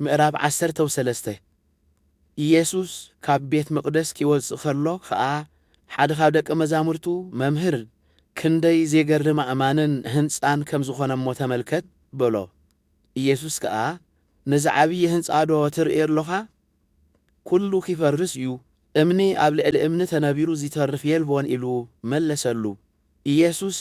ምዕራፍ ዓሰርተው ሰለስተ፣ ኢየሱስ ካብ ቤት መቕደስ ኪወጽእ ከሎ ኸኣ፣ ሓደ ኻብ ደቀ መዛሙርቱ፣ መምህር፣ ክንደይ ዜገርም ኣእማንን ህንጻን ከም ዝዀነ እሞ ተመልከት፣ በሎ። ኢየሱስ ከኣ፣ ነዚ ዓብዪ ህንጻዶ ትርኢ ኣሎኻ? ኵሉ ኺፈርስ እዩ፣ እምኒ ኣብ ልዕሊ እምኒ ተነቢሩ ዚተርፍ የልቦን፣ ኢሉ መለሰሉ። ኢየሱስ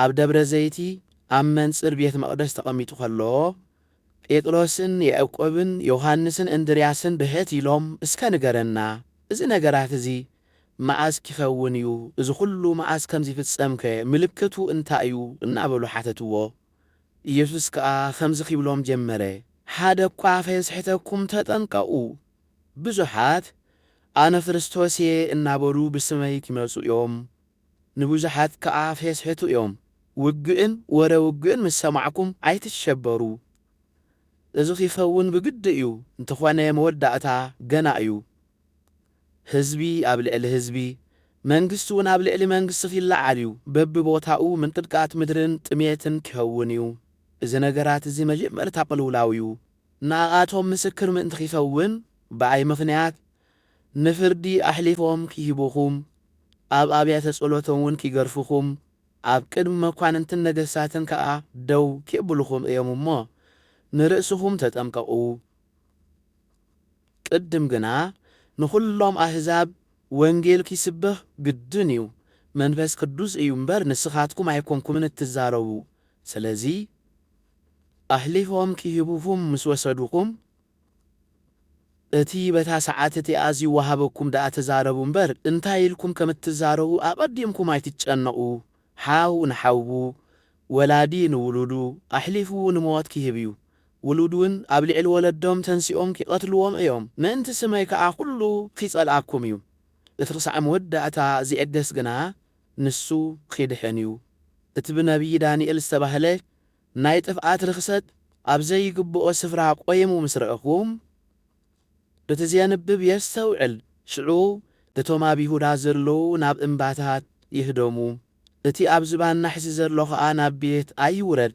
ኣብ ደብረ ዘይቲ ኣብ መንጽር ቤት መቕደስ ተቐሚጡ ኸሎ፣ ጴጥሮስን ያእቆብን ዮሃንስን እንድርያስን ብሕት ኢሎም እስከ ንገረና እዚ ነገራት እዚ መኣስ ኪኸውን እዩ እዚ ዅሉ መኣስ ከም ዚፍጸምከ ምልክቱ እንታይ እዩ እናበሉ ሓተትዎ ኢየሱስ ከኣ ኸምዚ ኺብሎም ጀመረ ሓደ እኳ ኸየስሕተኩም ተጠንቀቑ ብዙሓት ኣነ ክርስቶስ እየ እናበሉ ብስመይ ኪመጹ እዮም ንብዙሓት ከኣ ፌስሕቱ እዮም። ውግእን ወረ ውግእን ምስ ሰማዕኩም ኣይትሸበሩ። እዚ ኺከውን ብግዲ እዩ፣ እንተኾነ መወዳእታ ገና እዩ። ህዝቢ ኣብ ልዕሊ ህዝቢ፣ መንግስቲውን ኣብ ልዕሊ መንግስቲ ኺለዓል እዩ፣ በብቦታኡ ምንቅጥቃት ምድርን ጥሜትን ኪኸውን እዩ። እዚ ነገራት እዚ መጀመርታ ቅልውላው እዩ። ንኣኣቶም ምስክር ምእንቲ ኺከውን፣ ብኣይ ምኽንያት ንፍርዲ ኣሕሊፎም ኪህቡኹም፣ ኣብ ኣብያተ ጸሎቶምውን ኪገርፉኹም፣ ኣብ ቅድሚ መኳንንትን ነገሥታትን ከኣ ደው ኬብሉኹም እዮም እሞ፣ ንርእስኹም ተጠምቀቑ። ቅድም ግና ንዅሎም ኣሕዛብ ወንጌል ኪስበኽ ግድን እዩ፣ መንፈስ ቅዱስ እዩ እምበር፣ ንስኻትኩም ኣይኰንኩምን እትዛረቡ። ስለዚ፣ ኣሕሊፎም ኪህቡኹም ምስ ወሰዱኹም፣ እቲ በታ ሰዓት እቲኣ ዚወሃበኩም ደኣ ተዛረቡ እምበር፣ እንታይ ኢልኩም ከም እትዛረቡ ኣቐዲምኩም ኣይትጨነቑ። ሓው ንሓዉ፣ ወላዲ ንውሉዱ፣ ኣሕሊፉ ንሞት ኪህብ እዩ። ውሉድውን ኣብ ልዕሊ ወለዶም ተንሲኦም ኪቐትልዎም እዮም፣ ምእንቲ ስመይ ከኣ ኵሉ ኺጸልኣኩም እዩ። እቲ ኽሳዕ መወዳእታ ዚዕገስ ግና፣ ንሱ ኺድሕን እዩ። እቲ ብነብዪ ዳንኤል ዝተባህለ ናይ ጥፍኣት ርኽሰት ኣብ ዘይግብኦ ስፍራ ቆይሙ ምስ ረእኹ፣ እቲ ዜንብብ የስተውዕል፣ ሽዑ እቶም ኣብ ይሁዳ ዘለዉ ናብ እምባታት ይህደሙ፣ እቲ ኣብ ዝባን ናሕሲ ዘሎ ኸኣ ናብ ቤት ኣይውረድ፣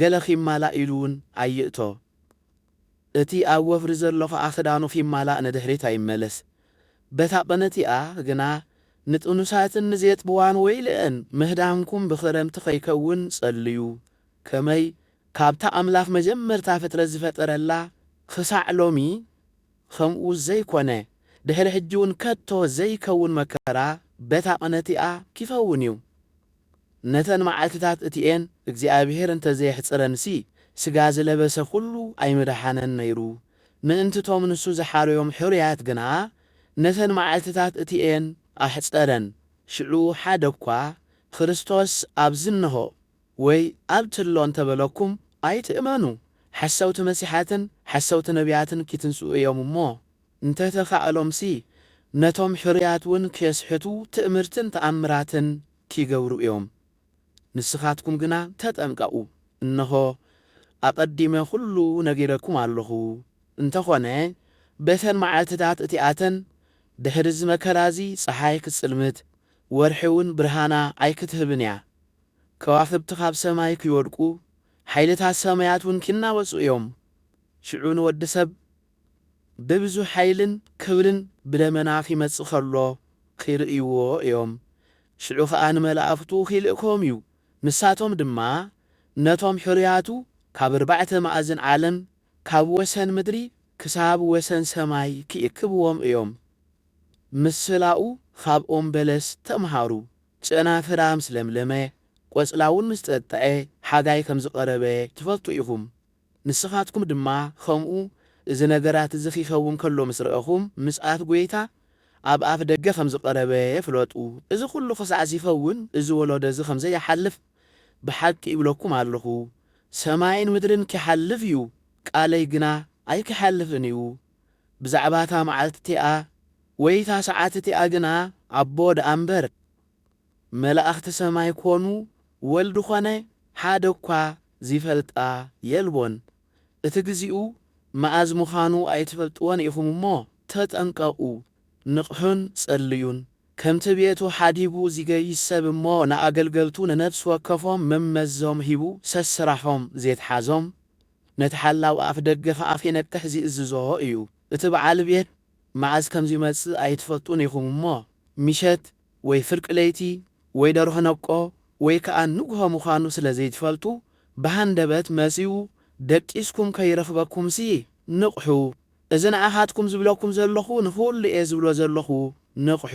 ገለ ኺማላእ ኢሉውን ኣይእቶ። እቲ ኣብ ወፍሪ ዘሎ ኸኣ ክዳኑ ኺማላእ ንድሕሪት ኣይመለስ። በታ ቕንእቲኣ ግና ንጥኑሳትን ንዜጥብዋን ወይልኤን፣ ምህዳምኩም ብኽረምቲ ኸይከውን ጸልዩ። ከመይ ካብታ ኣምላኽ መጀመርታ ፍጥረት ዝፈጠረላ ኽሳዕ ሎሚ ኸምኡ ዘይኰነ፣ ድሕሪ ሕጂውን ከቶ ዘይከውን መከራ በታ ቕንእቲኣ ኪኸውን እዩ። ነተን መዓልትታት እቲኤን እግዚኣብሄር እንተ ዘየሕጽረንሲ፣ ስጋ ዝለበሰ ኩሉ ኣይምደሓነን ነይሩ። ምእንቲ እቶም ንሱ ዝሓረዮም ሕሩያት ግና፣ ነተን መዓልትታት እቲኤን ኣሕጸረን። ሽዑ ሓደ እኳ፣ ክርስቶስ ኣብዚ እነሆ፣ ወይ ኣብቲ ኣሎ እንተ በለኩም፣ ኣይትእመኑ። ሓሰውቲ መሲሓትን ሓሰውቲ ነብያትን ኪትንስኡ እዮም እሞ፣ እንተተኻእሎምሲ ነቶም ሕሩያት ውን ኬስሕቱ ትእምርትን ተኣምራትን ኪገብሩ እዮም። ንስኻትኩም ግና ተጠንቀቑ፣ እንሆ፣ ኣቐዲመ ዅሉ ነጊረኩም ኣሎኹ። እንተኾነ በተን መዓልትታት እቲኣተን፣ ድሕሪ እዚ መከራ እዚ ጸሓይ ኪጽልምት፣ ወርሒ ውን ብርሃና ኣይክትህብን እያ። ከዋኽብቲ ኻብ ሰማይ ኪወድቁ፣ ሓይልታት ሰማያት ውን ኪናወጹ እዮም። ሽዑ ንወዲ ሰብ ብብዙ ሓይልን ክብርን ብደመና ኺመጽእ ከሎ ኺርእይዎ እዮም። ሽዑ ኸኣ ንመላእኽቱ ኺልእኮም እዩ፣ ንሳቶም ድማ ነቶም ሕሩያቱ ካብ ኣርባዕተ ማእዝን ዓለም፣ ካብ ወሰን ምድሪ ክሳብ ወሰን ሰማይ ኪእክብዎም እዮም። ምስላኡ ኻብ ኦም በለስ ተምሃሩ። ጨናፍራ ምስ ለምለመ፣ ቈጽላውን ምስ ጠጥዐ፣ ሓጋይ ከም ዝቐረበ ትፈልጡ ኢኹም። ንስኻትኩም ድማ ኸምኡ፣ እዚ ነገራት እዚ ኺከውን ከሎ ምስ ረእኹም፣ ምጽኣት ጐይታ ኣብ ኣፍ ደገ ኸም ዝቐረበ ፍለጡ። እዚ ዅሉ ኽሳዕ ዚኸውን፣ እዚ ወለዶ እዚ ኸም ዘይሓልፍ ብሓቂ እብለኩም ኣለኹ። ሰማይን ምድርን ኪሓልፍ እዩ፣ ቃለይ ግና ኣይኪሓልፍን እዩ። ብዛዕባ እታ መዓልቲ እቲኣ ወይ እታ ሰዓት እቲኣ ግና፣ ኣቦ ደኣ እምበር፣ መላእክቲ ሰማይ ኮኑ ወልድ ኮነ ሓደ እኳ ዚፈልጣ የልቦን። እቲ ግዚኡ መኣዝ ምዃኑ ኣይትፈልጥዎን ኢኹም እሞ ተጠንቀቑ፣ ንቕሑን ጸልዩን። ከምቲ ቤቱ ሓዲጉ ዚገይሽ ሰብ እሞ ንኣገልገልቱ ንነፍሲ ወከፎም መመዞም ሂቡ ሰስራሖም ዜትሓዞም፣ ነቲ ሓላው ኣፍ ደገ ኸኣ ኺነቅሕ ዚእዝዞ እዩ። እቲ በዓል ቤት መኣዝ ከም ዚመጽእ ኣይትፈልጡን ኢኹም እሞ፣ ምሸት ወይ ፍርቂ ለይቲ ወይ ደርሆ ነብቆ ወይ ከኣ ንግሆ ምዃኑ ስለ ዘይትፈልጡ ብሃንደበት መጺኡ ደቂስኩም ከይረኽበኩምሲ ንቕሑ እዚ ንዓኻትኩም ዝብለኩም ዘለኹ ንኹሉ'የ ዝብሎ ዘለኹ ንቕሑ።